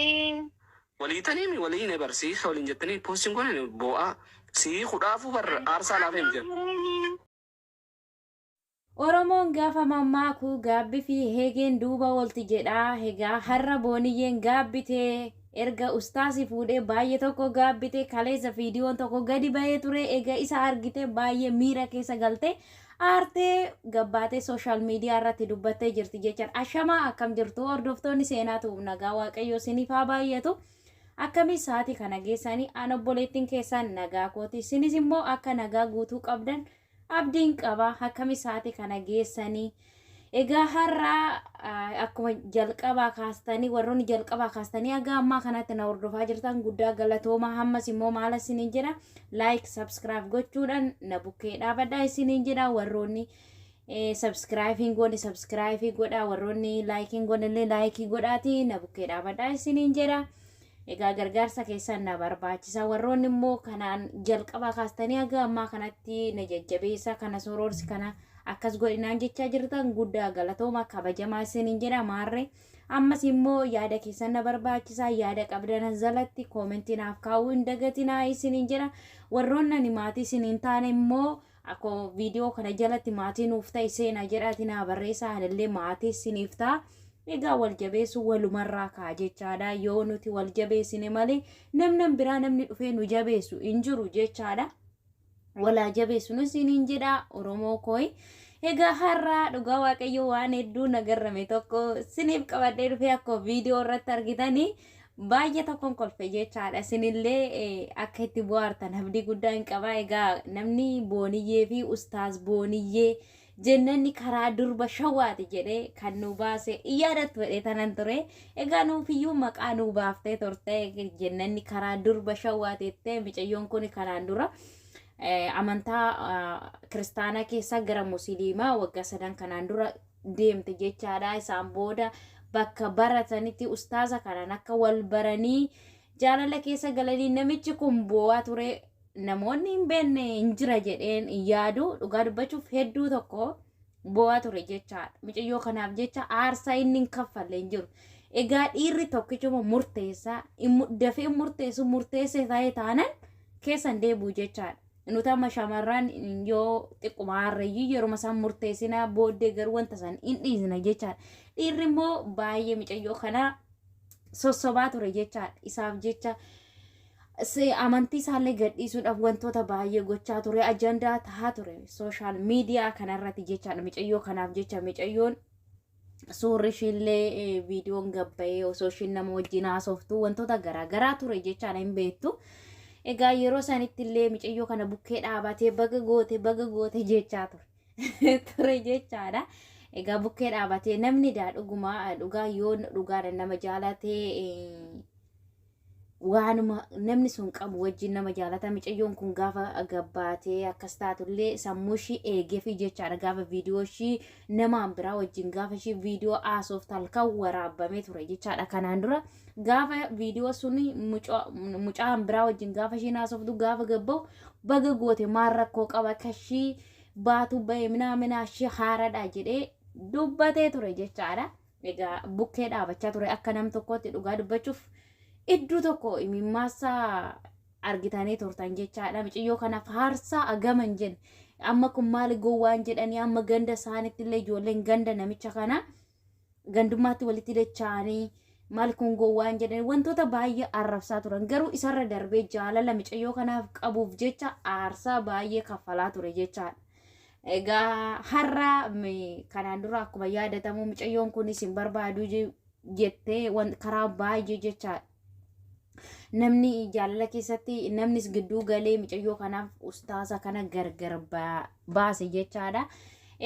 Iin. Walii taniimi walii ne bar sii waliin jettanii postiin goone boo'aa sii hudhaafuu bar aarsaa laafee miti bar. Oromoon gaafa mammaaku gaabbi fi heegeen duuba oolti jedha hegaa harra booniyyeen gaabbite erga ustaasi fuudhee baayye tokko gaabbite kaleessa fiidiyoon tokko gadi bahee ture ega isa argite baayye miira keessa galtee aartee gabbaatee sooshaal miidiyaa irratti dubbattee jirti jechaan ashamaa akkam jirtu hordoftoonni seenaa tu'uuf nagaa waaqayyoo siniif haa baay'atu akkamii sa'aatii kana geessanii an obboleettiin keessaan nagaa kooti sinis immoo akka nagaa guutuu qabdan abdiin qaba akkamii sa'aatii kana geessanii Egaa har'a akkuma jalqabaa kaastanii warroonni jalqabaa kaastanii haga ammaa kanatti na hordofaa jirtan guddaa galatoomaa hammas immoo maala isiniin jedha laayik sabskiraayib gochuudhaan na bukkee dhaabadhaa isiniin jedha warroonni sabskiraayibiin goone sabskiraayibii godhaa warroonni laayikiin goone illee laayikii godhaatii na bukkee dhaabadhaa isiniin jedha. Egaa gargaarsa keessan na barbaachisa. Warroonni immoo kanaan jalqabaa kaastanii haga ammaa kanatti na jajjabeessa kana soroorsi kana akkas godhinaan jechaa jirtan guddaa galatooma kabajamaa isiniin jedha maarree. Ammas immoo yaada keessan na barbaachisa yaada qabdan as jalatti koomentii naaf kaa'uu hin dagatinaa isiniin jedha. Warroonni ani maatii isiniin taane immoo Ako video kana jalatti maatii nuuf ta'i seenaa jedhaati naa barreessaa anillee maatii siniif ta'a. Egaa wal jabeessu walumarraa kaa jechaadha yoo nuti wal jabeessine malee namnan biraa namni dhufee nu jabeessu hin jiru jechaadha. Walaa jabeessu nu siniin jedha Oromoo kooyi. Egaa har'aa dhugaa waaqayyo waan hedduu nagarrame tokko siniif qabadhee dhufee akkuma viidiyoo irratti argitanii Baay'ee tokkon kolfe jechaadha. Isinillee eh, akka itti bu'aartan abdii guddaa hin qabaa. Egaa namni booniyyee fi ustaaz booniyyee jennanni karaa durba shawaati jedhee kan nu baase hin yaadattu jedhee tanan ture. Egaa nuufiyyuu maqaa nu baaftee turte jennanni karaa durba shawaati jettee micayyoon kun kanaan dura. eh, amantaa ah, kiristaanaa keessaa gara musiliimaa waggaa sadan kanaan dura deemte jechaadha. Isaan booda bakka baratanitti ustaaza kanaan akka wal baranii jaalala keessa galanii namichi kun boo'aa ture namoonni hin beekne hin jira jedheen yaadu dhugaa dubbachuuf hedduu tokko boo'aa ture jechaadha. Mucayyoo kanaaf jecha aarsaa inni hin kaffalle hin jiru. Egaa dhiirri tokkichuma murteessaa dafee murteessu murteessee ta'ee taanan keessan deebi'u jechaadha. nuti amma shamarran yoo xiqquma harreeyyii yeruma isaan murteessina booddee garuu wanta san hin dhiisna jechaadha. Dhiirri immoo baay'ee micayyoo kana sossobaa ture jechaadha. Isaaf jecha se- amantii isaallee gadhiisuudhaaf wantoota baay'ee gochaa ture ajandaa tahaa ture sooshaal miidiyaa kanarratti jechaadha micayyoo kanaaf jecha micayyoon suurri ishiillee eh, viidiyoon gabbayee osoo ishiin nama wajjin haasoftu wantoota garaa garaa ture jechaan hin beektu. Egaa yeroo sanitti illee micayyoo kana bukkee dhaabatee baga goote baga goote jechaa ture. ture jechaadha. Egaa bukkee dhaabatee namni daa dhugumaa dhugaa yoo dhugaadha nama jaalatee eh, waanuma namni sun qabu wajjin nama jaalata micayyoon kun gaafa gabbaatee akkas taatullee sammuu ishii eegeefii jechaadha gaafa viidiyoo ishii namaan biraa wajjin gaafa ishii viidiyoo haasoftu halkan waraabamee ture jechaadha kanaan dura gaafa viidiyoo sun mucaan biraa wajjin gaafa ishiin haasoftu gaafa gabba'u baga goote maal rakkoo qaba akka ishii baatu ba'e minaa minaa ishii haaradha jedhee dubbatee ture jechaadha. Egaa bukkee dhaabachaa ture akka nam tokkootti dhugaa dubbachuuf idduu tokko imimmaassaa argitanii turtan jechaadha. Miciyyoo kana faarsaa agama hin jenne. Amma kun maali gowwaan jedhanii amma ganda isaanitti illee ijoolleen ganda namicha kana gandummaatti walitti dacha'anii maal kun gowwaan jedhanii wantoota baay'ee arrabsaa turan. Garuu isarra darbee jaalala miciyyoo kanaaf qabuuf jecha aarsaa baay'ee kaffalaa ture jechaadha. Egaa har'a kanaan dura akkuma yaadatamu mucayyoon kunis hin barbaadu jettee karaa baay'ee jecha namni jaalala keessatti namnis gidduu galee mucayyoo kanaaf ustaasa kana gargar baase jechaadha.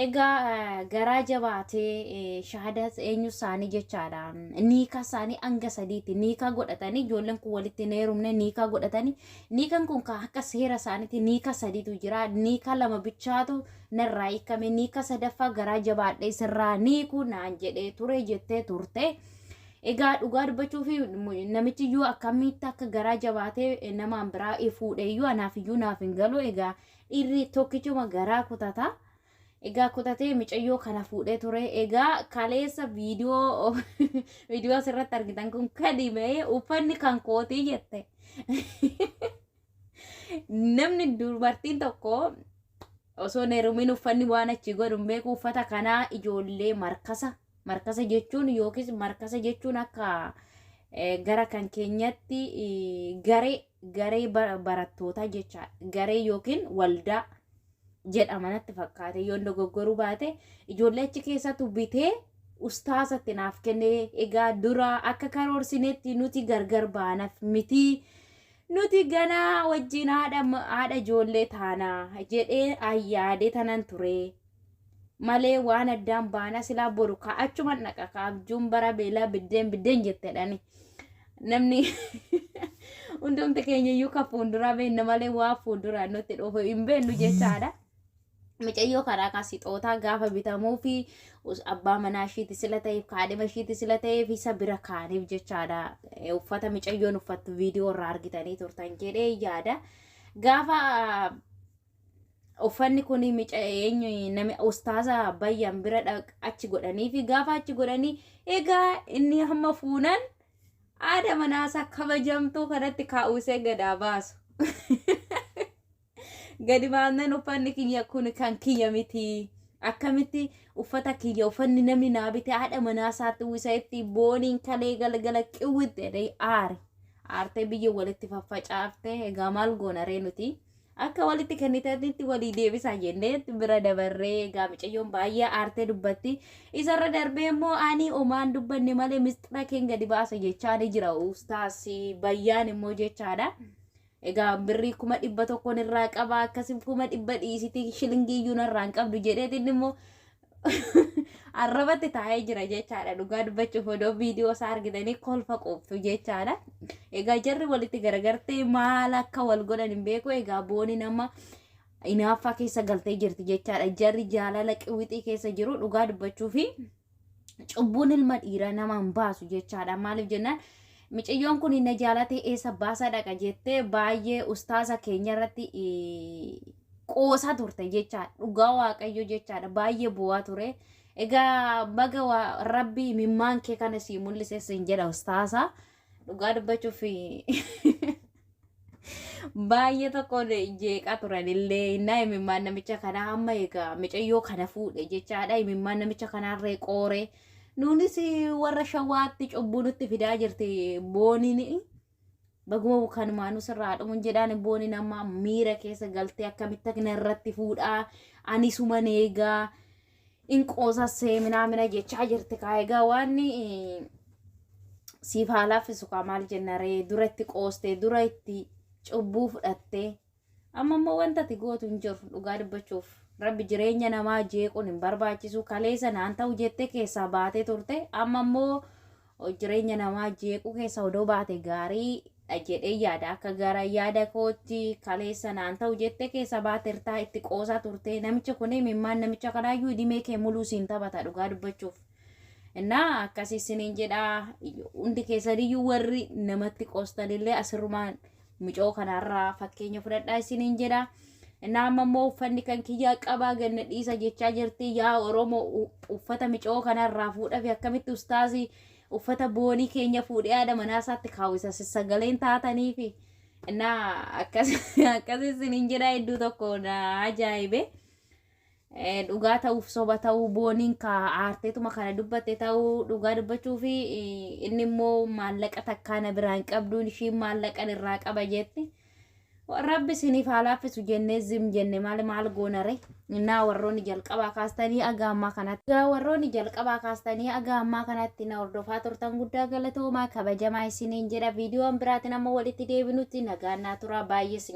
Egaa garaa jabaatee shahadaa eenyu isaanii jechaadha. Niikaa isaanii hanga sadiitti niikaa godhatanii ijoolleen kun walitti hin heerumne niikaa godhatanii Niikan kun kan akka seera isaaniitti niika sadiitu jira. Niika lama bichaatu narraa hiikame. Niika sadaffaa garaa jabaadhee sirraa niiku naan jedhee ture jettee turte. Egaa dhugaa dubbachuu fi namichi iyyuu akkamitti akka garaa jabaatee namaan biraa fuudhe iyyuu anaaf iyyuu naaf hin galu. Egaa dhiirri tokkichuma garaa kutata. Egaa kutatee micayyoo kana fuudhee ture. Egaa kaleessa viidiyoo viidiyoo asirratti argitan kun kadi ba'ee uffanni kan kootii jette. Namni dubartiin tokko osoo hin heerumin uffanni waan achi godhu hin beeku uffata kanaa ijoollee markasa markasa jechuun yookiis markasa jechuun akka eh, gara kan keenyatti eh, garee garee ba- barattootaa jechaadha garee yookiin waldaa jedhama natti fakkaate yoon dogoggoruu baate ijoollee achi keessatu bitee ustaasatti naaf kenne egaa dura akka karoorsinetti nuti gargar baanaf miti nuti ganaa wajjin haadha haadha ijoollee taana jedhee ayyaadee tanan ture malee waan addaan baana silaa boru kaa achuman dhaqa kaa abjuun bara beelaa biddeen biddeen jettedhani namni hundumti keenya iyyuu ka fuulduraa beenna malee waa fuulduraa nutti dhufu hin beennu jechaadha. Micayyoo karaa kaa sixootaa gaafa bitamuu fi abbaa manaa ishiiti sila ta'eef kaadhima ishiiti sila ta'eef isa bira kaaniif jechaadha. Uffata micayyoon uffattu viidiyoo irraa argitanii turtan jedhee yaada. Gaafa Uffanni kun mica eenyu nami ustaaza bayyan bira dhaq achi godhanii fi gaafa achi godhanii egaa inni hamma fuunan aada manaasaa kabajamtuu kanatti kaa'uusee gadaa baasu. Gadi baasneen uffanni kiyya kun kan kiyya miti. Akkamitti uffata kiyya uffanni namni naa bite haadha manaasaatti uwwisa itti booniin kalee galgala qiwwitti jedhee aare. Aartee biyya walitti faffacaaftee egaa maal goona ree nuti. Akka walitti kennitanitti walii deebisaa jennee bira dabarree egaa micayyoon baay'ee aartee dubbatti. Isarra darbee immoo ani omaan dubbanne malee misxira keen gadi baasa jechaa ni jira ustaas bayyaan immoo jechaadha. Egaa birrii kuma dhibba tokkoon irraa qaba akkasif kuma dhibba dhiisiti shilingii iyyuu narraa hin qabdu jedheetiin immoo arrabatti taa'ee jira jechaadha dhugaa dubbachuuf odoo viidiyoo isaa argitanii kolfa quuftu jechaadha egaa jarri walitti garagartee maal akka wal godhan hin beeku egaa booni nama inaaffaa keessa galtee jirti jechaadha jarri jaalala qiwixii keessa jiru dhugaa dubbachuu fi cubbuun ilma dhiiraa nama hin baasu jechaadha maaliif jennaan miciyyoon kun na jaalatee eessa baasa dhaqa jettee baay'ee ustaasa keenya irratti qoosaa turte jechaadha. Dhugaa Waaqayyo jechaadha. Baay'ee bu'aa ture. Egaa baga waa- rabbi imimmaan kee kana sii mul'ise siin jedha ustaasaa. Dhugaa dubbachuuf baay'ee tokko jeeqaa turan illee innaa imimmaan namicha kanaa amma egaa micayyoo kana fuudhe jechaadha. Imimmaan namicha kanaarree qoore. Nuunis warra shawaatti cubbuu nutti fidaa jirti booniin. Baguma kanumaanuu sirraa haa dhumu hin jedhaan booni nama miira keessa galtee akkamitti akka na irratti fuudhaa ani suman eegaa in qoosa seeminaa mina jechaa jirti kaa egaa waan eh, siif haa laaffisu kaa maal jenna ree dura itti qoostee dura itti cubbuu fudhattee Amma immoo wanta ati gootu hin jiru dhugaa dubbachuuf. Rabbi jireenya namaa jeequun hin barbaachisu kaleessa naan ta'u jettee keessaa baatee turte amma immoo jireenya namaa jeequu keessa odoo baate gaarii dha jedhee yaada akka gara yaada kootti kaleessa naan ta'u jettee keessaa baatertaa itti qoosaa turte namicha kun mimmaan namicha kanaayyuu idimee kee muluu siin taphata dhugaa dubbachuuf. Innaa akkasii isiniin jedha hundi keessaniyyuu warri namatti qoostanillee asirrumaan Mucoo kanarraa fakkeenya fudhadhaa isiniin jedha. Innaa amma immoo uffanni kan kiyyaa qabaa ganna dhiisa jechaa jirti. Yaa Oromoo u- uffata mucoo kanarraa fuudhaa fi akkamitti ustaazii uffata boonii keenya fuudhee haadha manaa isaatti kaawwisa sagaleen taatanii fi innaa akkas akkas isiniin jedha hedduu tokko na ajaa'ibe. Eh, dhugaa ta'uuf soba ta'uu booniin ka aarteetuma kana dubbatte ta'uu dhugaa dubbachuu fi eh, inni immoo maallaqa takkaa na biraan qabduun ishiin maallaqan irraa qaba jetti. Rabbi isiniif haa laaffisu jennee zim jenne maali maal goonare innaa warroonni jalqabaa kaastanii aga ammaa kanatti. Egaa warroonni jalqabaa kaastanii aga ammaa kanatti na hordofaa turtan guddaa galatoomaa kabajamaa isiniin jedha viidiyoon biraatiin amma walitti deebinutti nagaan naa turaa baay'ee isin